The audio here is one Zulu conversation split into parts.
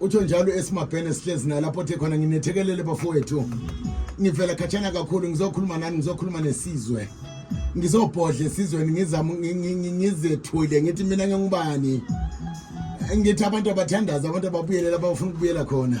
utsho njalo esimabhene sihlezi nalapho othe khona nginethekelele bafowethu ngivela khatshana kakhulu ngizokhuluma nani ngizokhuluma nesizwe ngizobhodla esizweni ngizama ngizethule ngithi mina ngingubani ngithi abantu abathandaza abantu ababuyelela abafuna ukubuyela khona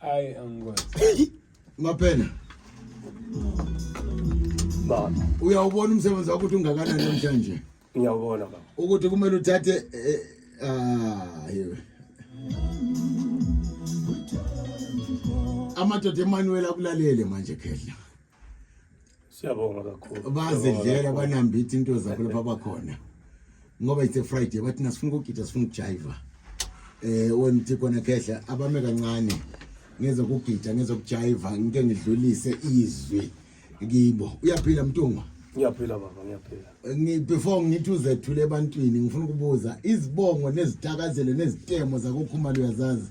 Ay angoy. Mapena. Baba. Uyawubona umsebenzi wakho ukuthi ungakanani namhlanje. Ngiyawubona baba. Ukuthi kumele uthathe eh, ah yewe. Amadoda eManuel akulalele manje khehla. siyabonga kakhulu bazidlela banambitha into zakho lapha bakhona ngoba it's a friday bathi nasifuna ukugida sifuna ukujayiva eh wemthi khona khehla abame kancane ngezokugida ngezokujayiva ngike ngidlulise izwi kibo uyaphila mntungwa ngiyaphila baba ngiyaphila ngi before ngithi uzethule ebantwini ngifuna ukubuza izibongo nezitakazelo nezitemo zakokhumalo uyazazi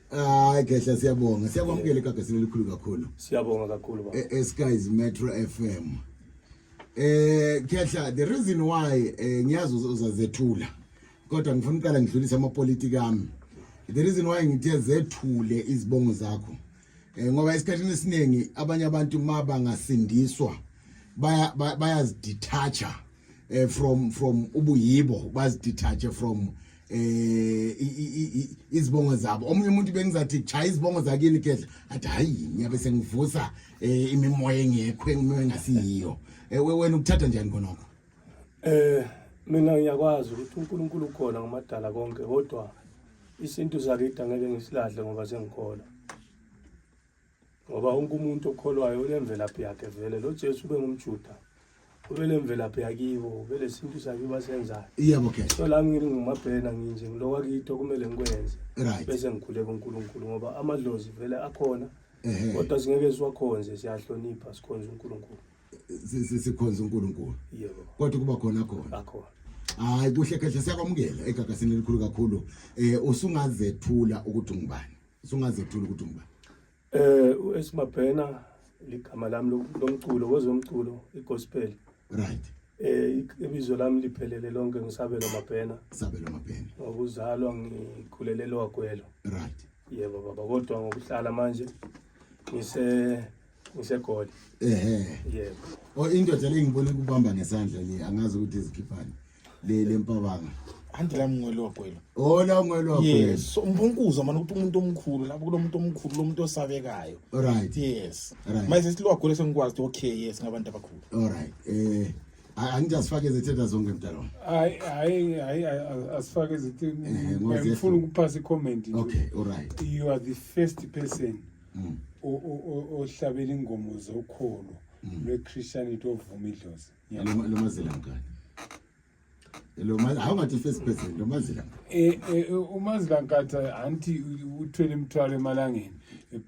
Hayi Khehla siyabonga. Siyakwamukela igagasini elikhulu kakhulu. Siyabonga kakhulu baba. E, Skies Metro FM. Eh Khehla the reason why eh, ngiyazi uzazethula. Kodwa ngifuna uqala ngidlulise amapolitiki ami. The reason why ngithe zethule izibongo zakho. Eh ngoba isikhathini esiningi abanye abantu mabangasindiswa baya bayazidetacha eh from from ubuyibo bazidethache from eh izibongo zabo omunye umuntu bengizathi cha izibongo zakini kedla athi hayi ngiyabe sengivusa eh, imimoya engekho engimoya engasiyiyo eh, wena ukuthatha njani konoko eh mina ngiyakwazi ukuthi uNkulunkulu ukhona ngomadala konke kodwa isintu zakhe idangeke ngisilahle ngoba sengikholwa ngoba wonke umuntu okholwayo unemvelaphi yakhe vele lo Jesu ube ngumjuda ube nemvelaphi yakibo ube lesintu sakibo asenzayo yebo ke so la ngini ngumabhena nginje ngilowa kitho kumele ngikwenze right bese ngikhule kuNkulunkulu ngoba amadlozi vele akhona kodwa singeke siwakhonze siyahlonipha sikhonze uNkulunkulu sikhonze uNkulunkulu yebo kodwa kuba khona khona akhona hayi kuhle kahle siyakwamukela egagasini elikhulu kakhulu eh usungazethula ukuthi ungubani sungazethula ukuthi ngubani eh uSmabhena ligama lami lomculo kwezomculo igospel right eh ibizo lami liphelele lonke ngisabelo mabhena sabelo mabhena ngokuzalwa ngikhulelele wagwelo right yebo baba kodwa ngokuhlala manje ngise ngisegoli ehe yebo o indoda le ngibone kubamba ngesandla le angazi ukuthi izikhiphani le lempabanga anti la mngwelo wagwelo oh la mngwelo wagwelo yes so umbunkuzo manje ukuthi umuntu omkhulu lapho kulomuntu omkhulu lomuntu osabekayo right yes right manje silwagwelo sengikwazi okay yes ngabantu abakhulu all right eh angijasifake izithenda zonke mdalo hayi hayi hayi asifake izithenda ngifuna ukuphasa icomment okay all right you are the first person mm. ohlabela ingoma zokholo mm. lwe-christianity ovuma idlozi lomazilankani awungathi first person lomazilankani eh, eh, eh, umazilankatha anti uthwele imithwalo emalangeni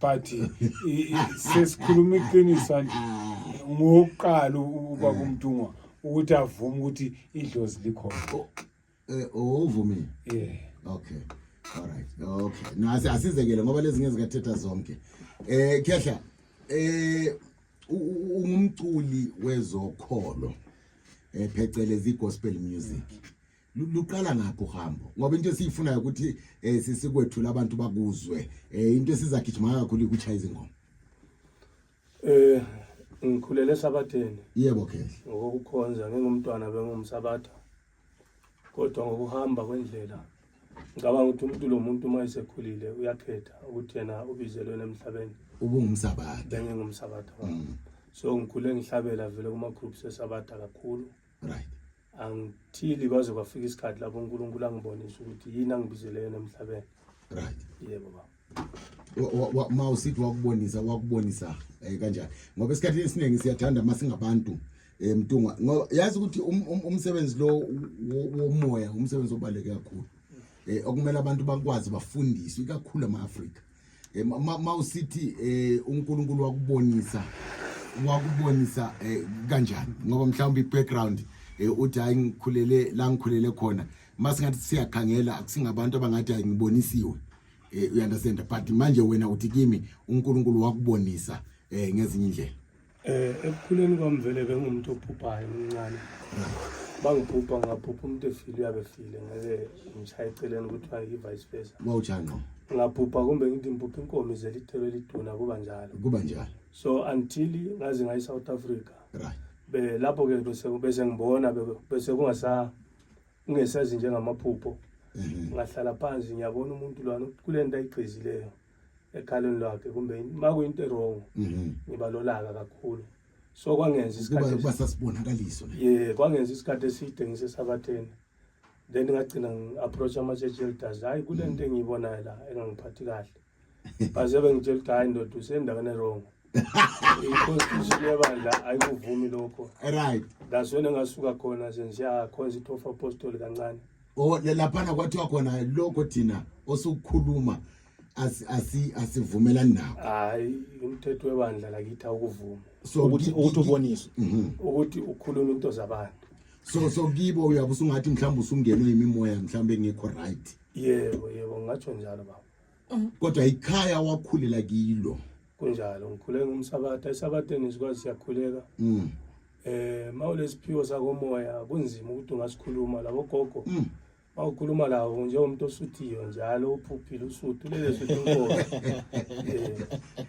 but sesikhuluma iqiniso anti ngokuqala ubaba umntungwa ukuthi avume ukuthi idlozi likhona Eh, uvumile yeah okay all right okay no asizekele ngoba lezi ngeke zikathetha zonke eh khehla eh ungumculi wezokholo eh phecelezi gospel music luqala ngapho uhambo ngoba into esiyifunayo ukuthi eh, sisikwethula abantu bakuzwe eh, into esizagijima kakhulu ukuchaya izingoma eh ngikhulele esabatheni yebo khehla ngokukhonza ngingumntwana bengumsabatha kodwa ngokuhamba kwendlela ngicabanga ukuthi umuntu lo muntu uma esekhulile uyakhetha ukuthi yena ubizelweni emhlabeni ubungumsabatha bengingumsabatha mm. so ngikhule ngihlabela vele kuma-groups esabatha kakhulu right angithili kwaze kwafika isikhathi lapho unkulunkulu angibonisa ukuthi yini angibizele yena emhlabeni right yebo baba ma usithi wakubonisa wakubonisa um kanjani ngoba esikhathini esiningi siyathanda uma singabantu um mtunga ngoba yazi ukuthi um, um, umsebenzi lo womoya umsebenzi obaluleke kakhulu um okumele abantu bakwazi bafundiswe ikakhulu ama-afrika um ma usithi um unkulunkulu wakubonisa wakubonisa um kanjani ngoba mhlawumbe i-background um uthi hhayi ngikhulele la ngikhulele khona uma singathi siyakhangela akusingabantu abangathi hhayi ngibonisiwe eh, you understand but manje wena uthi kimi uNkulunkulu wakubonisa eh ngezinye indlela eh ekukhuleni kwami vele bengumuntu ophuphayo umncane bangiphupha ngaphupha umuntu efile uyabe efile ngeke ngishaya eceleni kuthiwa i-vice versa wawujani no ngaphupha kumbe ngithi ngiphupha inkomo izela ithelo eliduna kuba njalo kuba njalo so until ngaze ngayi South Africa right be lapho ke bese bese ngibona bese kungasa ungesazi njengamaphupho mhm. ngahlala phansi ngiyabona umuntu lwana kule nto ayigqizileyo ekhaleni lwakhe kumbe uma kuyinto erongo mhm. ngiba lolaka kakhulu so kwangenza isikhathikuba sasibonakaliso ye kwangenza isikhathi eside ngisesabatheni then ngagcina ngi-approach ama-church elders hhayi kule nto engiyibonayo la engangiphathi kahle bazobe ngitshela ukuthi hayi ndoda usendaweni erong i-constitution yebandla ayikuvumi lokho right that's when engasuka khona sensiyakhonza ithofa apostoli kancane o laphana kwathiwa khona lokho thina osukukhuluma asi- asi- asivumelani nawo hayi umthetho webandla lakithi awukuvumi so ukuthi ki- ukuthi ki- uboniswe ukuthi ukhuluma into zabantu so so kibo uyabe usungathi mhlawumbe usungenwe yimimoya mhlawumbe engekho right yebo yebo ngingatsho njalo baba Mm. kodwa ikhaya wakhulela kilo kunjalo ngikhule ngumsabatha esabatheni sikwazi siyakhuleka mm. eh mawulesiphiwo sakomoya kunzima ukuthi ungasikhuluma labo gogo mm. mawukhuluma lawo njengomuntu osuthiyo njalo uphuphile usuthu lele suthu inkosi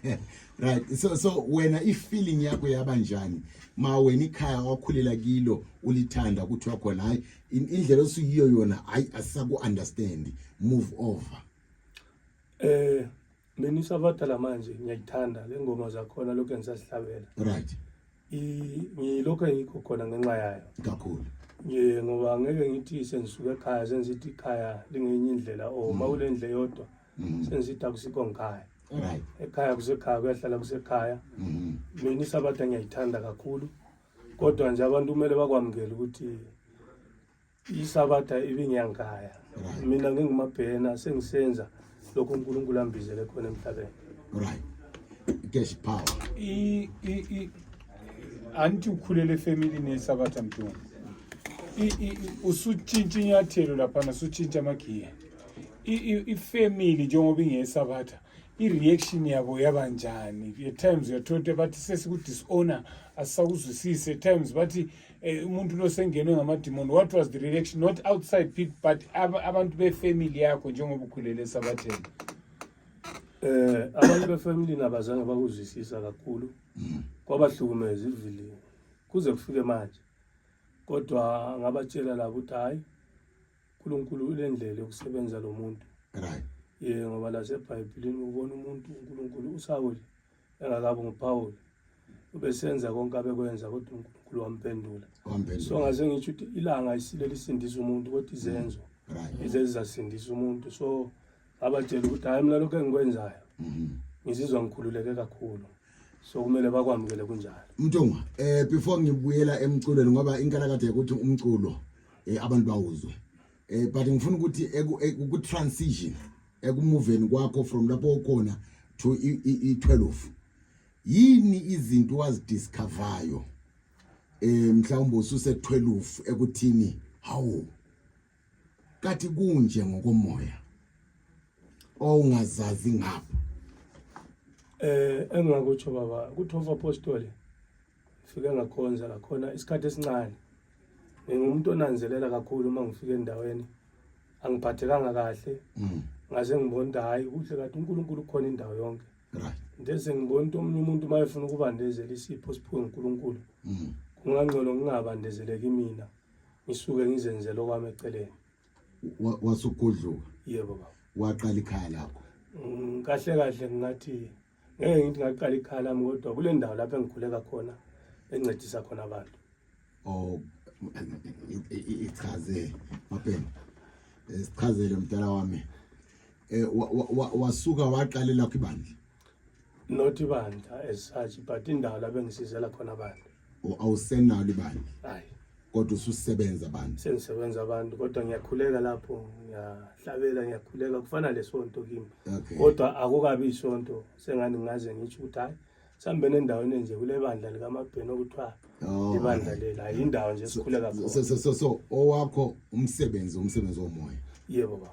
eh. right so so wena ifeeling yakho yaba njani ma wena ikhaya wakhulela kilo ulithanda ukuthi wakhona hayi indlela osuyiyo yona hayi asisaku understand move over eh mina isabadala manje ngiyayithanda le ngoma zakhona lokho engisazihlabela right ngilokho engikho khona ngenxa yayo kakhulu ye ngoba ngeke ngithi sengisuke ekhaya sengizithi ikhaya lingenye indlela o oh, ma kule ndle yodwa mm-hmm. sengizithi akusikho ngikhaya ekhaya kusekhaya kuyahlala kusekhaya mm-hmm. mina isabata ngiyayithanda kakhulu kodwa nje abantu kumele bakwamukele ukuthi isabatha ibingiyangikhaya mina ngingumabhena sengisenza lokho unkulunkulu ambizele khona emhlabeni right cash power i i i anti ukhulele family ne sabatha mtungu i i usutshintsha inyathelo lapha nasutshintsha amagiya i i family njengoba ingesabatha i-reaction yabo yaba njani at times uyathola ukuthi bathi sesiku-dishonor asisakuzwisisi at times bathi eh, umuntu lo sengenwe ngamadimoni what was the reaction not outside people but ab abantu befamily yakho njengoba ukhulele esabatheni um eh, abantu befamilini abazange bakuzwisisa kakhulu kwabahlukumeza ivilini kuze kufike manje kodwa ngabatshela labo ukuthi hhayi uNkulunkulu ulendlela yokusebenza lo muntu right ye ngoba lasebhayibhilini ubona umuntu uNkulunkulu uSawule engakabi nguPawulu ubesenza konke abekwenza kodwa uNkulunkulu wampendula so ngaze ngisho ukuthi ilanga isile lisindisa umuntu kodwa izenzo right izezasindisa umuntu so abatshela ukuthi hayi mina lokho engikwenzayo mhm. ngizizwa ngikhululeke kakhulu so kumele bakwamukele kunjalo mntungwa eh before ngibuyela emculweni ngoba inkalakade ukuthi umculo eh abantu bawuzwe eh but ngifuna ukuthi ku transition ekumuveni kwakho from lapho ukhona to i12 yini izinto wazidiscoveryo eh mhlawumbe ususe 12 ekuthini hawu kathi kunje ngokomoya owungazazi ngapha eh engingakutsho baba kuthofa apostoli ngifike ngakhonza lakhona isikhathi esincane ngingumuntu onanzelela kakhulu uma ngifika endaweni angiphathekanga kahle mm. ngaze ngibona ukuthi hhayi kuhle kade unkulunkulu ukhona indawo yonke ndese ngibona ukuthi omunye umuntu uma efuna ukubandezela isipho siphiwe ngunkulunkulu mm. kungangcono ngingabandezeleki mina mm. ngisuke ngizenzela okwami eceleni Wa- wasugudluka yebo baba waqala ikhaya lakho Mm, kahle kahle ngingathi ngeke ngithi ngaqala ikhaya lami kodwa kule ndawo lapho engikhuleka khona encedisa khona abantu oh i- i- i- ichaze mapeni Eh, sichazele mdala wami eh wa- wa- wa- wasuka waqala lakho ibandla not ibandla as such but indawo la bengisizela khona abantu O- awusenalo ibandla hayi kodwa ususebenza bandla sengisebenza abantu kodwa ngiyakhuleka lapho ngiyahlabela ngiyakhuleka kufana lesonto kimi okay kodwa akukabi isonto sengani ngaze ngitsho ukuthi hayi sihambe nendaweni enje kule bandla likamabheni okuthiwa Oh, ibandla alright. lela yindawo nje sikhuleka so, khona so, so, so owakho umsebenzi umsebenzi womoya yebo baba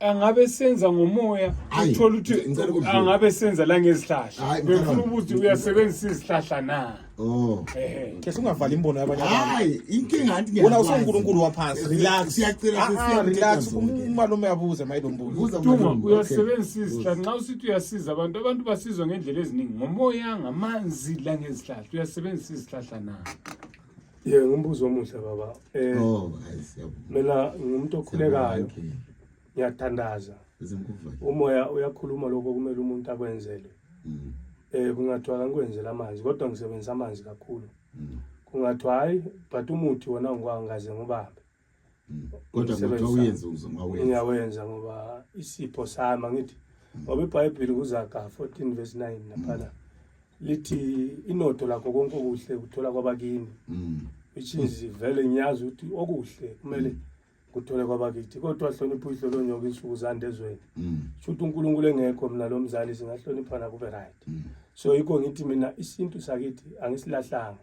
angabe senza ngomoya uthola ukuthi angabe senza la ngezihlahla befuna ukuthi uyasebenzisa izihlahla na Oh. Eh, eh. Sungavali imbono yabanye abantu. Hayi, inkinga anti ngiyabona. Wona usonkulunkulu waphansi. Relax. Siyacela ah, sisiya. Ah, relax. Umalume yabuza mayibe umbuzo. Buza umalume. Uyasebenzisa isihla. Nxa usithi uyasiza abantu, abantu basizwa ngendlela eziningi. Ngomoya, ngamanzi la ngezihlahla. Uyasebenzisa isihlahla na? Yeah, ngumbuzo omuhle baba. Eh, oh, mina ngumuntu okhulekayo. Ngiyathandaza. Umoya uyakhuluma lokho kumele umuntu akwenzele. Mm. Eh kungathiwa kangikwenzela amanzi kodwa ngisebenzisa amanzi kakhulu. Mm. Kungathiwa hayi but umuthi wona ngikwangaze ngubambe. Mm. kodwa kuthiwa uyenze uzomawenza ngiyawenza ngoba isipho sami angithi mm. ngoba ibhayibheli kuzaga 14 verse 9 mm. laphana lithi inotho lakho konke okuhle kuthola kwabakini which is vele ngiyazi ukuthi okuhle kumele kuthole kwabakithi kodwa hlonipha uyihlo lonyoka insuku zande ezweni shuthi unkulunkulu engekho mina lo mzali singahloniphana kube right so yikho ngithi mina isintu sakithi angisilahlanga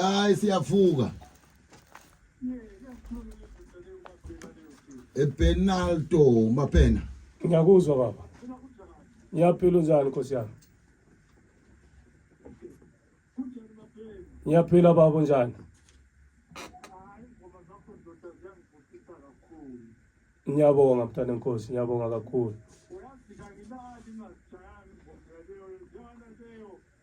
hayi siyavuka epenalto maphena ngiyakuzwa baba ngiyaphila unjani nkosi yami ngiyaphila baba unjani ngiyabonga mntana nkosi ngiyabonga kakhulu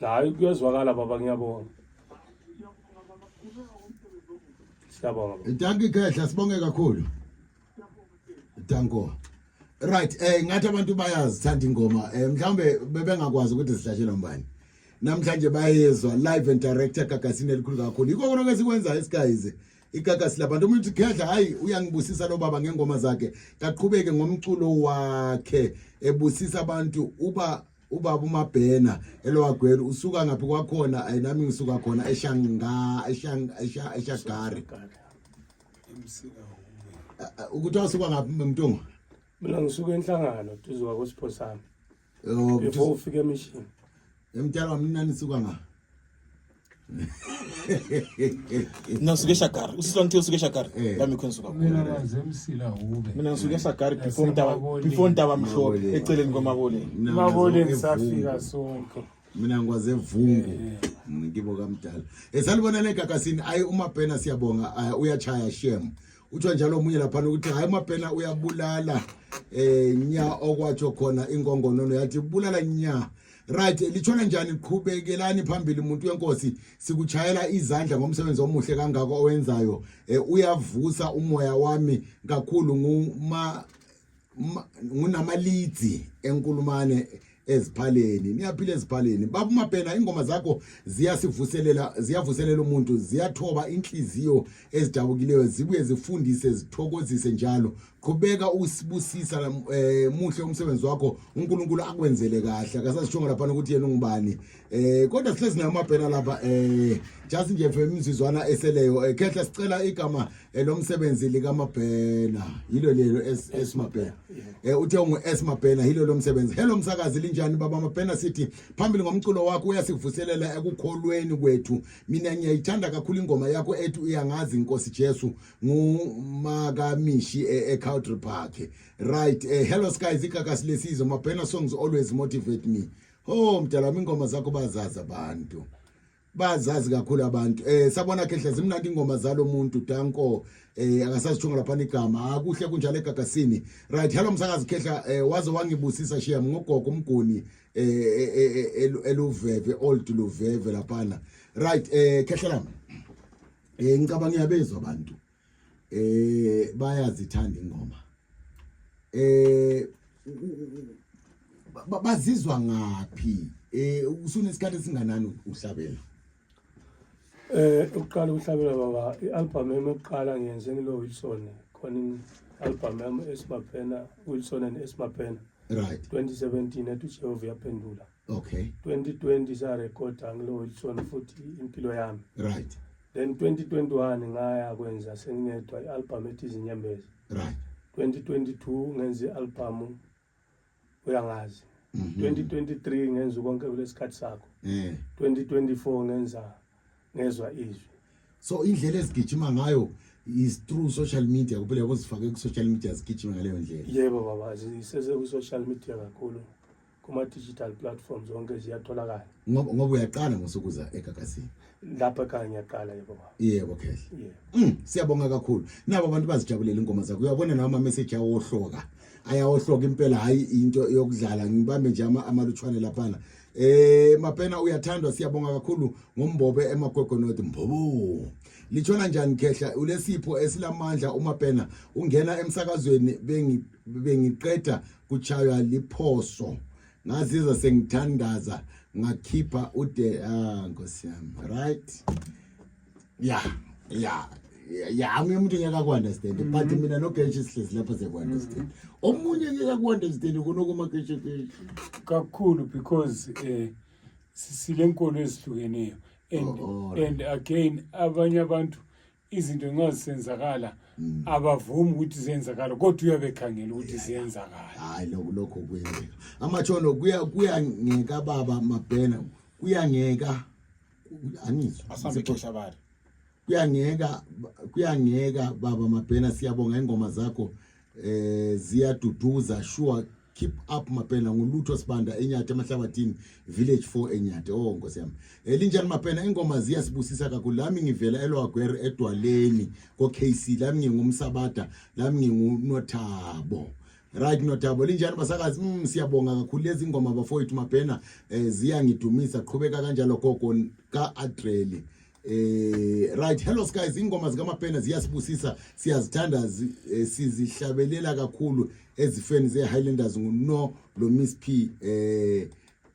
hayi kuyezwakala baba ngiyabonga siyabonga baba. Dankie Khehla sibonge kakhulu. Danko. Right, eh ngathi abantu bayazithanda ingoma. Eh mhlambe bebengakwazi ukuthi zihlashelwa ubani. Namhlanje bayezwa live and direct egagasini elikhulu kakhulu. Yikho konke esikwenzayo esikayize. igagasi labantu umuntu khedla hayi uyangibusisa lo baba ngengoma zakhe kaqhubeke ngomculo wakhe ebusisa abantu uba ubaba umabhena elowagwela usuka ngaphi kwakhona ayi nami ngisuka khona eshanga eshanga eshagari ukuthi wasuka ngaphi mntungu mina ngisuka enhlangano duze kwakosiphosami Oh, before ufike emission. Emtshela wami nani suka nga. Mina suke shakar. Usiswa ngithe usuke shakar. Eh. Lami khona suka. Mina baze emsila ube. Mina ngisuke shakar before ntaba before ntaba mhlophe eceleni kwamabole. Mabole ngisafika sonke. mina ngikwaze vungu ngibo kamdala esalibona negagasini ayi umabhena siyabonga uyachaya shem kuthiwa njalo omunye laphana ukuthi hhayi umabhena uyabulala eh nya okwatsho khona inkongonono yathi bulala nya right litshona njani qhubekelani phambili umuntu wenkosi sikuchayela izandla ngomsebenzi omuhle kangako owenzayo eh, uyavusa umoya wami kakhulu nguma ngunamalithi enkulumane eziphaleni niyaphila eziphaleni baba umabhena ingoma zakho ziyasivuselela ziyavuselela umuntu ziyathoba inhliziyo ezidabukileyo zibuye zifundise zithokozise njalo qhubeka usibusisa eh, muhle umsebenzi wakho uNkulunkulu akwenzele kahle akasasishongo lapha ukuthi yena ungubani Eh kodwa sihlezi nayo amabhena lapha eh just nje mfwe imizizwana eseleyo eh, khehla sicela igama eh, lomsebenzi lika mabhena yilo lelo es mabhena eh uthe ungu es mabhena yilo lomsebenzi hello msakazi linjani baba mabhena sithi phambili ngomculo wakho uyasivuselela ekukholweni kwethu mina ngiyayithanda kakhulu ingoma yakho ethi uyangazi inkosi Jesu ngumakamishi eh, e Country Park right eh hello skies ikakasi lesizwe mabhena songs always motivate me Oh mdala wami ingoma zakho bazazi abantu. Bazazi kakhulu abantu. Eh sabona khehle zimnandi ingoma zalomuntu Danko eh akasasithunga lapha igama. Akuhle ah, kunjalo egagasini. Right, hello msakazi khehla eh waze wangibusisa shiya ngogogo umguni eh, eh, eh, eh eluveve old luveve lapha. Right, eh khehla lami. Eh ngicabanga ngiyabezwa abantu. eh bayazithanda ingoma eh bazizwa ngaphi eh usunesikhathi esinganani uhlabela eh uqala uhlabela baba ialbum yami yokuqala ngiyenze ngilo Wilson khona ialbum yami esimaphena Wilson and esimaphena right 2017 ethi Jehova yaphendula okay 2020 sa record angilo Wilson futhi impilo yami right then 2021 ngaya kwenza sengiyedwa i-album ethi izinyembezi right 2022 ngenza i-album uyangazi mm -hmm. 2023 ngenza konke kulesikhathi sakho yeah. 2024 ngenza ngezwa izwi so indlela ezigijima ngayo is through social media kuphela yabo zifake ku social media zigijima ngaleyo ndlela yebo baba sisese ku social media kakhulu kuma digital platforms zonke ziyatholakala ngoba ngoba uyaqala ngosukuza egagasini lapha kanye ngiyaqala yebo baba yebo khehla yebo mm, siyabonga kakhulu nabo abantu bazijabulela ingoma zakho uyabona nawo ama message awohloka ayawohloka impela hayi into yokudlala ngibambe nje ama amalutshwane laphana eh mapena uyathandwa siyabonga kakhulu ngombobe emagwegonodi mbobo lichona njani khehla ulesipho esilamandla uma pena ungena emsakazweni bengi bengiqeda kuchaywa liphoso ngazizwa sengithandaza ngakhipha ude ah nkosi yami right yeah yeah ya amunye umuntu ngeke aku-understand mm-hmm. but mina nogeshi sihlezi lapha siyaku-understand mm-hmm. omunye ngeke aku-understand kunokomageshekeshi kakhulu because um sisile nkolo ezihlukeneyo and oh, and again abanye abantu izinto nxa zisenzakala mm. abavumi ukuthi ziyenzakala kodwa uyabe ekhangela ukuthi ziyenzakala hayi lokho lokho kwenzeka amatshono kuya kuyangeka baba mabhena kuyangeka anizwa kuyangeka kuyangeka baba mabhena siyabonga ingoma zakho eh ziyaduduza sure keep up mapena ngulutho sibanda enyathe emahlabathini village 4 enyathe oh nkosi yami elinjani mapena ingoma ziyasibusisa kakhulu lami ngivela elwagwer edwaleni ko KC lami ngingumsabada lami ngingunothabo right nothabo linjani basakazi mm, siyabonga kakhulu lezi ngoma bafowethu mapena eh, ziyangidumisa qhubeka kanjalo gogo ka Adreli Eh right hello guys ingoma zikaMapena ziyasibusisa siyazithanda eh, sizihlabelela kakhulu ezifeni ze Highlanders nguno lo Miss P eh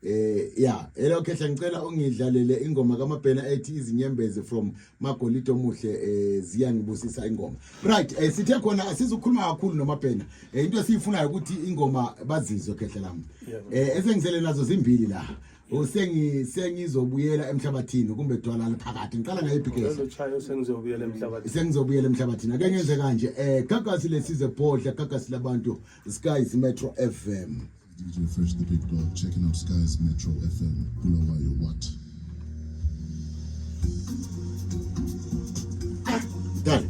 eh yeah hello khehla ngicela ungidlalele ingoma kaMapena ethi izinyembezi from Magolito Muhle eh ziyangibusisa ingoma right eh sithe khona asizukhuluma kakhulu noMapena eh into esiyifunayo ukuthi ingoma bazizwe khehla lami eh esengisele nazo zimbili la usengi sengizobuyela emhlabathini kumbe dwala liphakathi ngiqala ngayo ibhigesi chayo sengizobuyela emhlabathini sengizobuyela emhlabathini ake ngenze kanje eh gagasi lesize bhodla gagasi labantu skies metro fm DJ Fresh the Big Dog checking out Skies Metro FM Bulawayo what Done.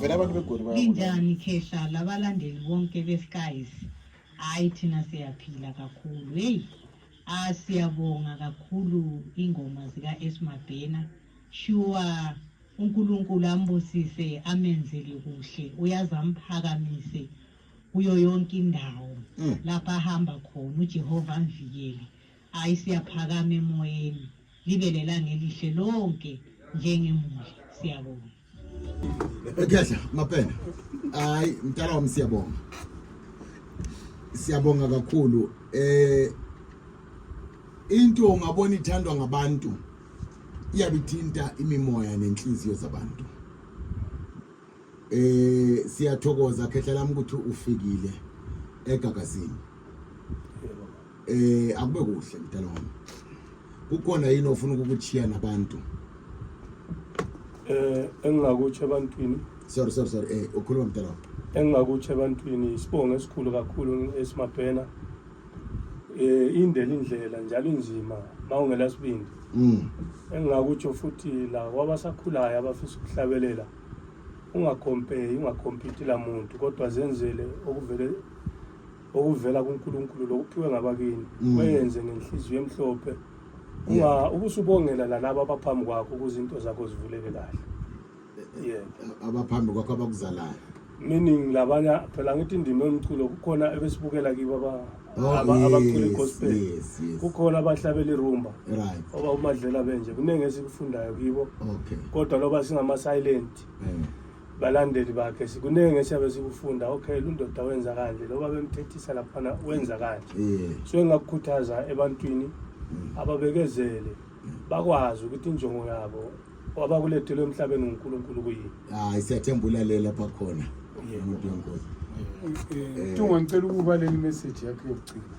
vele abantu begoli linjani khehla labalandeli bonke beskies hayi thina siyaphila kakhulu heyi ah siyabonga kakhulu ingoma zika-esmabhena shuwa unkulunkulu ambusise amenzele kuhle uyaze amphakamise kuyo yonke indawo mm. lapho ahamba khona ujehova amvikele Hayi siyaphakama emoyeni libe lelanga elihle lonke njengemuli siyabonga Ekhehla mapena hayi mntana wami siyabonga siyabonga kakhulu eh into ungabona ithandwa ngabantu iyabithinta imimoya nenhliziyo zabantu Eh siyathokoza khehla lami ukuthi ufikile egagazini. Eh akube kuhle mdala wami. Kukhona yini ofuna ukukuchiya nabantu? Eh engingakutshe ebantwini. Sorry sorry sorry eh ukhuluma mdala wami. Engingakutshe ebantwini isibongo esikhulu kakhulu esimadwena. Eh indela indlela njalo inzima mawungela sibindi. Mm. Engingakutsho futhi la wabasakhulayo abafisa ukuhlabelela. ungakompare ungakompiti la muntu kodwa zenzele okuvele okuvela kuNkulunkulu lokuphiwe ngabakini mm. wenze ngenhliziyo emhlophe unga ubusubongela lalabo abaphambi kwakho ukuze into zakho zivuleke kahle yebo abaphambi kwakho abakuzalayo meaning labanye phela ngithi indima yomculo kukhona ebesibukela kibo abacula igospel kukhona abahlabela irumba oba umadlela benje kuningi esikufundayo kibo kodwa loba singama-silent mm. balandeli bakhe sikuningi esiyabe sikufunda okay lundoda wenza kanje loba bemthethisa laphana wenza kanje so engakukhuthaza ebantwini mm. ababekezele bakwazi ukuthi injongo yabo wabakulethele emhlabeni uNkulunkulu kuyini hayi siyathemba ulalela bakhona umuntu wenkosi Tunga ngicela ukuba leli message yakhe yokugcina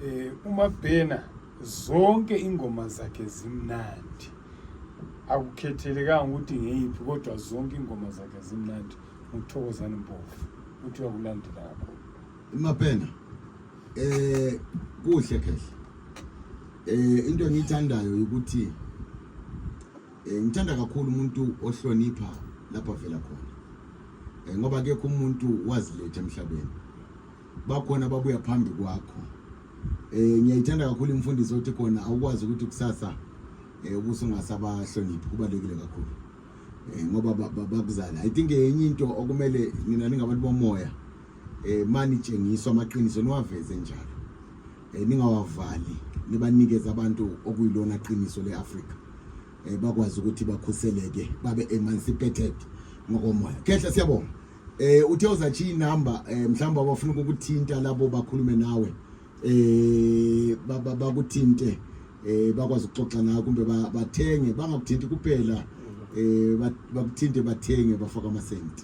eh uma bhena zonke ingoma zakhe zimnandi akukhethelekanga ukuthi ngeyiphi kodwa zonke ingoma zakhe zimnandi nguthokozani mpofu uthi uyakulandela akho imabhena Eh kuhle kahle. Eh into engiyithandayo ukuthi eh ngithanda kakhulu umuntu ohlonipha lapha vela khona. Eh ngoba akekho umuntu wazilethe emhlabeni. Bakhona babuya phambi kwakho. Eh ngiyayithanda kakhulu imfundiso othi khona awukwazi ukuthi kusasa eh ubuso ngasabahloniphi kubalekile kakhulu. Eh ngoba bakuzala. I think enye into okumele nina ningabantu bomoya eh mani tshengiswa amaqiniso niwaveze njalo eh ningawavali nibanikeza abantu okuyilona qiniso leAfrika eh bakwazi ukuthi bakhuseleke babe emancipated ngokomoya khehle siyabonga eh uthe uzathi inumber eh mhlawumbe abafuna ukukuthinta labo bakhulume nawe eh bakuthinte ba, ba eh bakwazi ukuxoxa nawe kumbe bathenge bangakuthinti kuphela eh bakuthinte bathenge bafaka amasenti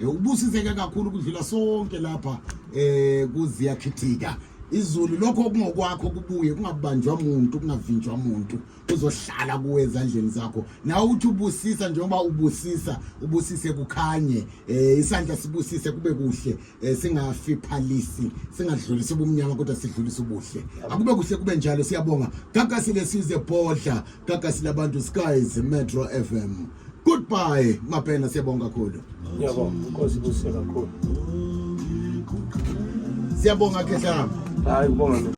Eh, ubusiseke kakhulu kudlula sonke lapha eh kuziyakhithika izulu lokho okungokwakho kubuye kungabanjwa umuntu kungavinjwa umuntu uzohlala kuwe ezandleni zakho nawe uthi ubusisa njengoba ubusisa ubusise kukhanye eh isandla sibusise kube kuhle eh, singafiphalisi singadlulisi ubumnyama kodwa sidlulisa ubuhle akube kuhle kube njalo siyabonga gagasile size bodla gagasi labantu skies metro fm goodbye mapena siyabonga kakhulu ngiyabonga inkosi ibusise kakhulu siyabonga khehlama hayi ubonga